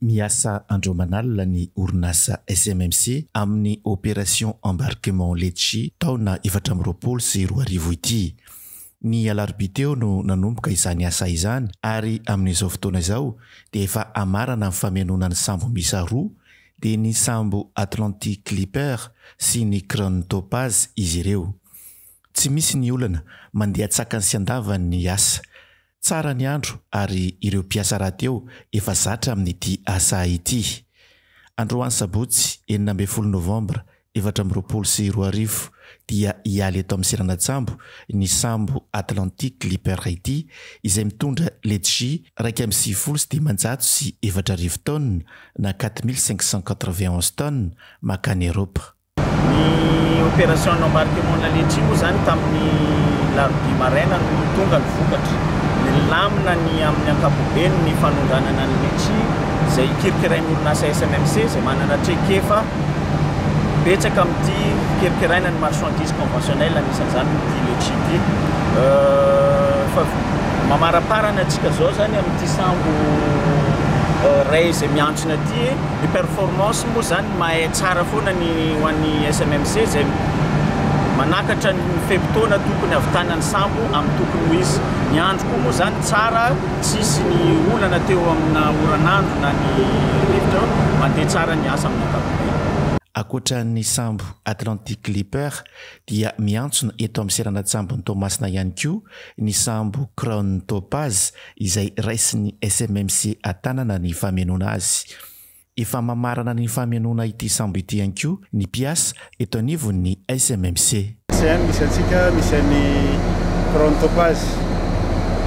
Miasa andro aman'alina ny orinasa SMMC amin'ny Opération Embarquement Letchi taona efatra amby roapolo sy roa arivo ity. Ny alarobia teo no nanomboka izany asa izany ary amin'izao fotoana izao dia efa amarana ny famenoana ny sambo miisa roa dia ny sambo Atlantic Clipper sy ny Crown Topaz izy ireo. Tsy misy ny olana, mandeha an-tsakany sy an-davany ny asa. Tsara ny andro ary ireo mpiasa rahateo efa zatra amin'ity asa ity. Androany sabotsy enina ambin'ny folo novambra efatra amby roapolo sy roa arivo dia hialy eto amin'ny seranan-tsambo ny sambo Atlantic Clipper ity izay mitondra letchie iraika amby sivifolo sy dimanjato sy efatra arivo taonina na quatre mille cinq cent quatre-vingt-onze tonnes makany Eropa. Ny opération embarquement de la laitchie moa izany tamin'ny larobia maraina no tonga ny vokatra. Nilamina ny amin'ny ankapobeny ny fanondranana ny letchi izay hikirikirain'ny orinasa SMMC izay manana traikefa betsaka amin'ity fikirikiraina ny marchandises conventionnelles anisan'izany ity letchi ity. Efa mamaraparana antsika izao izany amin'ity sambo iray izay miantsona ity. Ny performance moa izany. Mahay tsara foana ny ho an'ny SMMC izay manakatra ny fe-potoana tokony havitana ny sambo amin'ny tokony ho izy. Ny andro koa moa izany tsara, tsisy ny olana teo amina oran'andro na ny rivotra, mandeha tsara ny asa amin'ny ankapobeny. Ankoatra ny sambo Atlantic Clipper dia miantsona eto amin'ny seranan-tsambon'i Toamasina ihany koa ny sambo Crown Topaz izay raisin'ny SMMC Antanana ny famenoana azy. Efa mamarana ny famenoana ity sambo ity ihany koa ny mpiasa eto anivon'ny SMMC. Tsy hainy misy antsika, misy an'i Chrome Topaz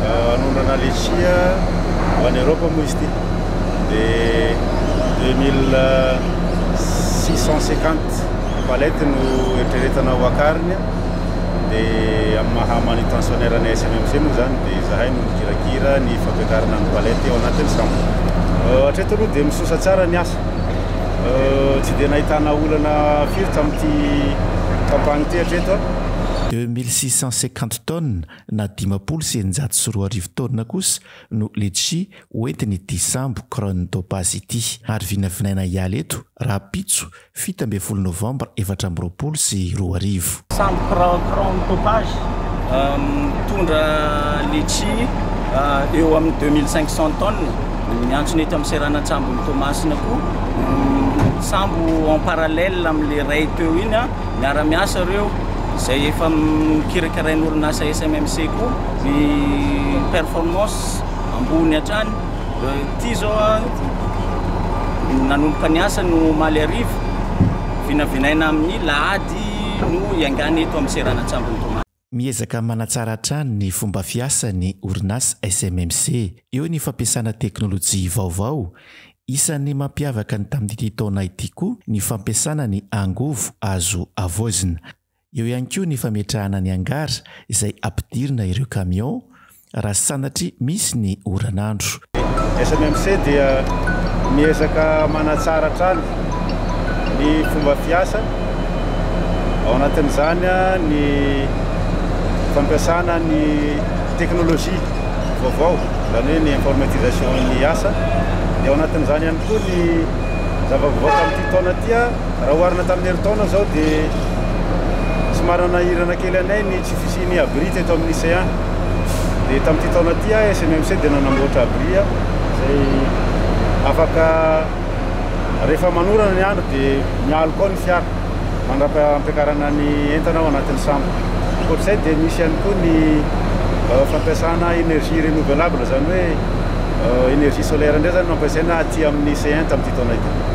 hanondrana letchia ho any Europe moa izy ity de deux mille six cent cinquante palette no eritreretana ho akariny. dia amin'ny maha manutentionnaire ny SMMC moa izany dia izahay no mikirakira ny fampiakarana ny palette ao anatin'ny sambo. Hatreto aloha dia misosa tsara ny asa. Tsy dia nahitana olana firy tamin'ity campagne ity hatreto. Deux mille six cent cinquante tonnes na dimampolo sy eninjato sy roa arivo taonina kosa no litchi hoentin'ity sambo Krone Topaz ity ary vinavinaina hiala eto rahampitso fito ambin'ny folo novambra efatra amby roapolo sy roa arivo. Sambo crayon crayon mitopage mitondra letchi eo amin'ny deux mille cinq cent tonnes miantsona eto amin'ny seranan-tsambon'i Toamasina koa sambo en parallèle amin'ilay iray teo iny miara-miasa ireo izay efa mikirakirain'orinasa SMMC koa ny performance ambony hatrany Ity izao nanomboka niasa no omaly hariva, vinavinaina amin'ny lahady no hiaingàna eto amin'ny seranan-tsambon'i Toamasina. Miezaka manatsara hatrany ny fomba fiasa ny orinasa SMMC eo ny fampiasana teknolojia vaovao. Isan'ny mampiavaka ny tamin'ity taona ity koa ny fampiasana ny angovo azo havaozina. Eo ihany koa ny fametrahana ny hangar izay ampidirina ireo camion raha sanatry misy ny oran'andro. Ny SNMC dia miezaka manatsara hatrany ny fomba fiasa, ao anatin'izany ny fampiasana ny teknolojia vaovao, izany hoe ny informatisation-n'ny asa, dia ao anatin'izany ihany koa ny zava-baovao tamin'ity taona ity. Raha oharina tamin'ny herintaona izao dia somary nanahirana kely anay ny tsy fisian'ny abri teto amin'ny CA. Dia tamin'ity taona ity aho SMMC dia nanamboatra abri izay afaka rehefa manorana ny andro dia mialoka ao ny fiara mandra-pampiakarana ny entana ao anatin'ny sambo. Ankoatr'izay dia misy ihany koa ny euh, fampiasana énergie renouvelable izany hoe euh, énergie solaire indray izany no ampiasaina aty amin'ny CN tamin'ity taona ity.